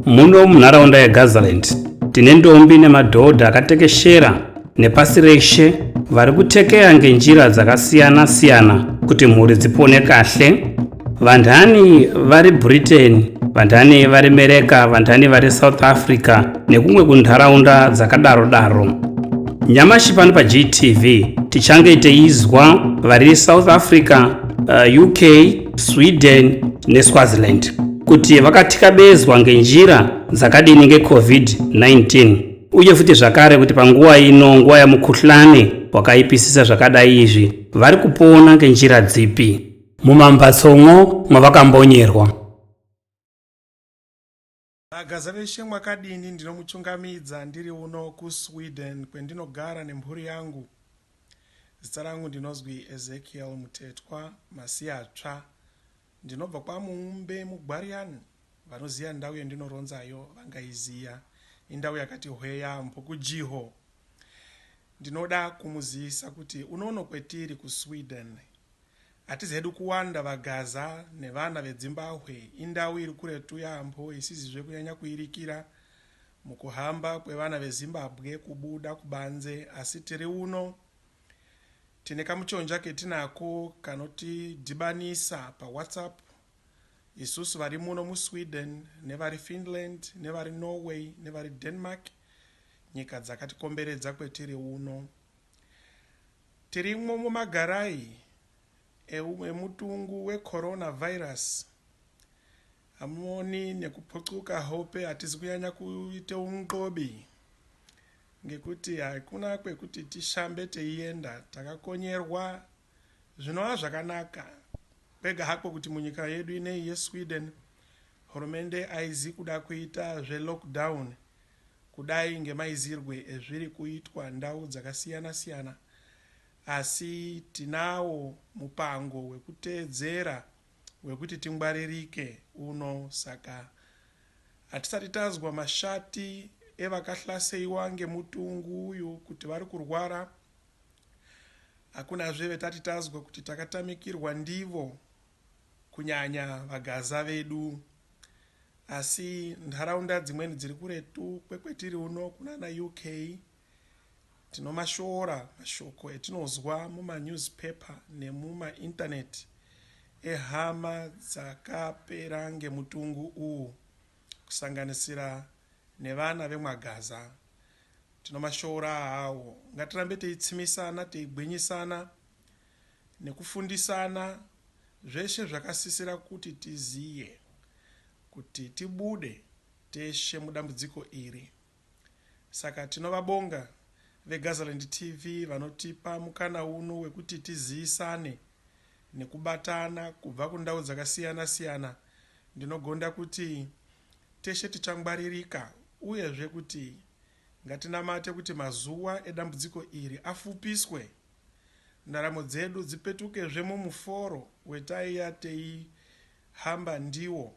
Muno munharaunda yeGazaland tine ndombi nemadhodha akatekeshera nepasi reshe vari kutekeya ngenjira dzakasiyana-siyana kuti mhuri dzipone kahle Vandhani vari Britain, vandhani vari Mereka, vandhani vari South Africa nekumwe kunharaunda dzakadaro daro. Nyamashi pano paGTV tichange teizwa vari South Africa, uh, UK, Sweden neSwaziland kuti vakatikabezwa ngenjira dzakadini ngeCovid-19 uye futi zvakare kuti panguva ino nguva yamukhuhlane wakaipisisa zvakadai izvi vari kupona ngenjira dzipi. Mumambatsomwo mwavakambonyerwa. Bagaza veshe mwakadini ndinomuchungamidza ndiri uno kuSweden kwendinogara nemhuri yangu. Zita rangu ndinozwi Ezekiel Mutetwa Masiyatsva. Ndinobva kwaMuumbe muGwarian. Vanoziya ndau yendinoronzayo vangaiziya. Indau yakati hwe yaambo kuJiho. Ndinoda kumuzivisa kuti unono kwetiri kuSweden Hatizi hedu kuwanda vaGaza nevana veDzimbahwe indau iri kuretu yaamho isizizve kunyanya kuirikira mukuhamba kwevana veZimbabwe kubuda kubanze asi tiri uno tine kamuchonja ketinako kanotidhibanisa paWhatsApp isusu vari muno muSweden nevari Finland nevari Norway nevari Denmark nyika dzakatikomberedza kwetiri uno Tirimwo mumagarayi emutungu weCorona virus hamuoni nekuputsvuka hope hatizi kunyanya kuita unxobi ngekuti hakuna kwekuti tishambe teienda takakonyerwa zvinova zvakanaka kwega hako kuti munyika yedu ineyi yeSweden hurumende haizi kuda kuita zvelockdown Kudai ngemaizirwe ezviri kuitwa ndau dzakasiyana siyana asi tinawo mupango wekuteedzera wekuti tingwaririke uno saka hatisati tanzwa mashati evakahlaseiwa ngemutungu uyu kuti vari kurwara hakunazve vetati tanzwa kuti takatamikirwa ndivo kunyanya vaGaza vedu asi nharaunda dzimweni dziri kuretu kwekwetiri uno kunana UK tinomashora mashoko etinozwa mumanewspaper nemumainternet ehama dzakapera ngemutungu uwu kusanganisira nevana vemwaGaza tinomashora awo ngatirambe teitsimisana teigwinyisana nekufundisana zveshe zvakasisira kuti tiziye kuti tibude teshe mudambudziko iri. Saka tinovabonga veGazaland TV vanotipa mukana uno wekuti tiziyisane nekubatana kubva kundau dzakasiyana siyana ndinogonda kuti teshe tichangwaririka uyezve kuti ngatinamate kuti mazuwa edambudziko iri afupiswe ndaramo dzedu dzipetukezve mumuforo wetaiya teihamba ndiwo,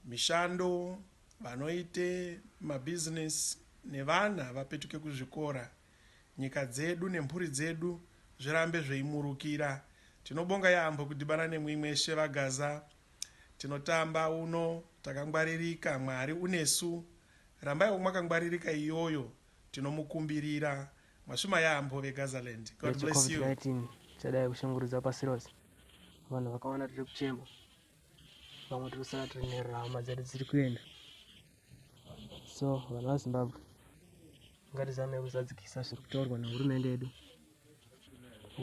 mishando, vanoita mabusiness nevana vapetuke kuzvikora, nyika dzedu nemhuri dzedu zvirambe zveimurukira. Tinobonga yaamho kudhibana nemwi mweshe vaGaza. Tinotamba uno takangwaririka, Mwari unesu. Rambaiwo mwakangwaririka iyoyo tinomukumbirira Mashuma yaambo veGazaland. God bless you. Covid-19 chadai kushungurudza pasi rose. Vanhu vakawanda tiri kuchema. Vamwe tiri kusara tiri nerama dzedu dziri kuenda. So vanhu vaZimbabwe ngatizame kuzadzikisa zviri kutaurwa nehurumende yedu.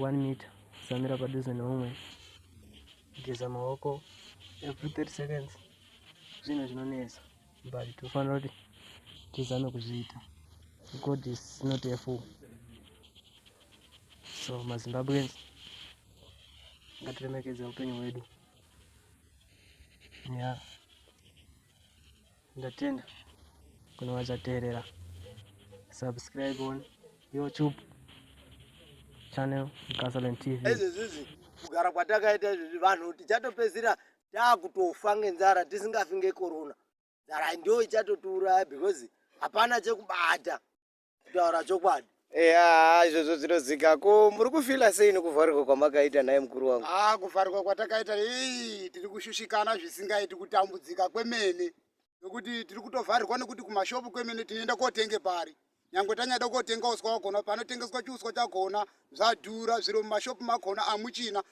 One meter, samira padhuze neumwe, geza maoko every 30 seconds, zvinhu zvinonetsa. but tofanira kuti tizame kuzviita god is not a fool so mazimbabweans ngatiremekedze upenyu hwedu ya ndatenda kune vachateerera subscribe on youtube channel gasoline tv kugara kwatakaita izvezvi vanhu tichatopedzisira takutofa ngenzara tisingafi ngekorona nzara ndo ichatotiuraya because hapana chekubata kutaura chokwadi eya izvozvo zvinozika ko muri kufila sei nekuvharirwa kwamakaita naye mukuru wangu a ah, kuvharirwa kwatakaita ii tiri kushushikana zvisingaiti kutambudzika kwemene nokuti tiri kutovharirwa nokuti kumashopu kwemene tinoenda kotenge pari nyangwe tanyada kotenga uswa wakona panotengeswa chiuswa chakona zvadhura zviro mumashopu makona amuchina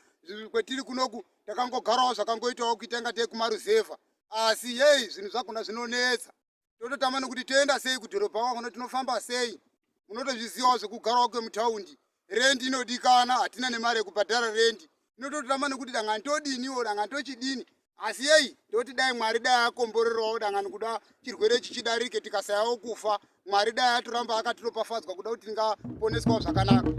kwetiri kunoku takangogarawo zvakangoitawo kuita inga tei kumaruzevha asi yei zvinhu zvakona zvinonetsa tototama nokuti toenda sei kudhorobha kwakona tinofamba sei unotozvizivawo zvekugarawo kwemutaundi rendi inodikana hatina nemari yekubhadhara rendi inototirama nekuti dangani todiniwo dangani tochidini asi yei ndoti dai mwari dai akomborerawo dangani kuda chirwere chichidarike tikasayawo kufa mwari dai atoramba akatiropafadzwa kuda kuti tingaponeswawo zvakanaka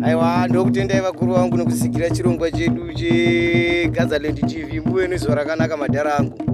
aiwa ndokutendai vakuru vangu nekusigira chirongwa chedu chegazaland tv muve nezuva rakanaka madhara angu